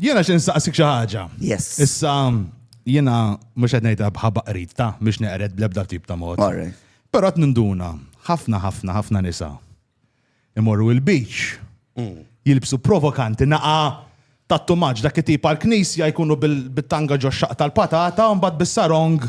Jiena xi nsaqsik xi ħaġa. Yes. Issa jiena mhux qed ngħidha bħabaq qrid ta' mhux neqred bl-ebda tip ta' mod. Però qed ninduna ħafna ħafna ħafna nisa imorru il-beach mm. jilbsu provokanti naqa' tat-tumaġ dak it-tip għal-knisja jkunu bit-tanga ġo xaq tal-patata u mbagħad bis-sarong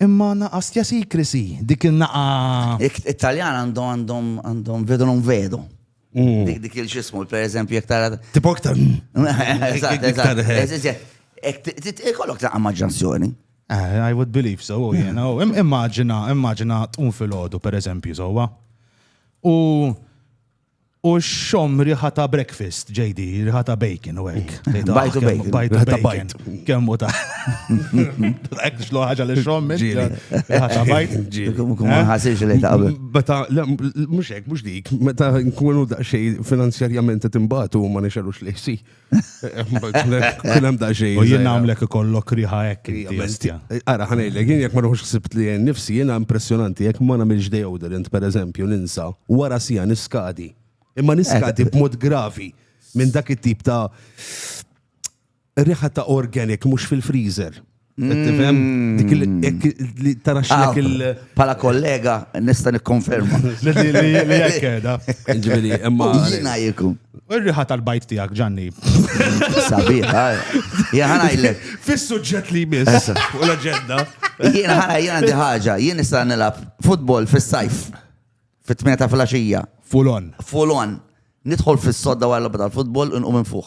Imma naqas jasicracy, dik il-naqa. It-Taljan għandhom għandhom għandhom vedo non vedo. Mm. Dik dik il-xismu, per eżempju, jek tara. Tipo iktar. Eżatt, eżatt. Ikollok ta' maġġansjoni. Eh, I would believe so, oh, jena. Oh, immaġina, immaġina tqum fil-ħodu, per eżempju, sowa. U U xxomm riħa ta' breakfast, JD, riħa ta' bacon u hekk. Bajt u bacon. Bajt u bacon. Kemm u ta' hekk xlu ħaġa li xxomm riħa ta' bajt. Ma ħasirx li ta' Meta mhux hekk mhux dik, meta nkunu daqsxejn finanzjarjament qed imbagħtu ma nixelux li ħsih. Kun hemm daqsxejn. U jien nagħmlek ikollok riħa hekk inti bestja. Ara ħanejlek, jien jekk ma ruħux ħsibt li jien nifsi jiena impressjonanti jekk ma nagħmilx deodorant pereżempju ninsa wara sija niskadi. Imma niskadi b'mod gravi minn dak it-tip ta' riħa ta' organic mhux fil-freezer. Tifhem? Dik il- Mm. hekk li tara x'lek il- Ah, Pala kollega, nista nikkonferma. li- li- li- li hekk qiegħda. Ġifieri, imma. Jina jikun. Ir-riħa tal-bajt tiegħek, Ġanni. Sabiħa. Jien ħanajlek. Fis-suġġett li jmiss Issa. fuq l-aġenda. Jien ħana jien għandi ħaġa. Jien nista' nilgħab futbol fis-sajf. Fit-tmien ta' flaxija. Fulon. Fulon. Nidħol fis-sodda wara l-logħba tal-futbol u nqum infuħ.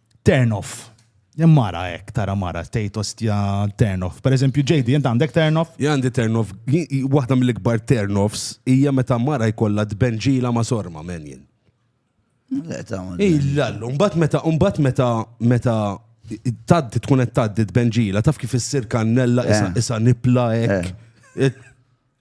Turn off. Hemm mara hekk tara mara tgħid ostja turn off. Pereżempju JD int għandek turn off? Jien għandi turn off, waħda mill-ikbar turn offs hija meta mara jkollha tbenġila ma' sorma men jien. Le ta' Illallu, mbagħad meta mbagħad meta meta taddi tkun qed taddi tbenġila taf kif issir kannella isa eh. nipla hekk. Eh. Eh,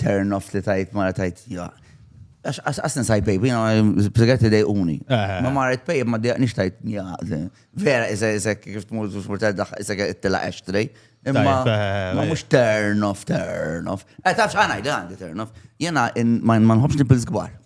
Turn off li tajt mara tajt Għas nisaj pejb, jina segretti dej uni. Eh. Ma marret pejb, ma dejq nix tajt Vera, iza, iza, kif t-mur, t-mur, iza, t-tela eċtrej. Imma, eh, eh, ma mux turn off, turn off. Eh, tafx għana, għandi turn off. Jena, ma nħobx nipil zgwar.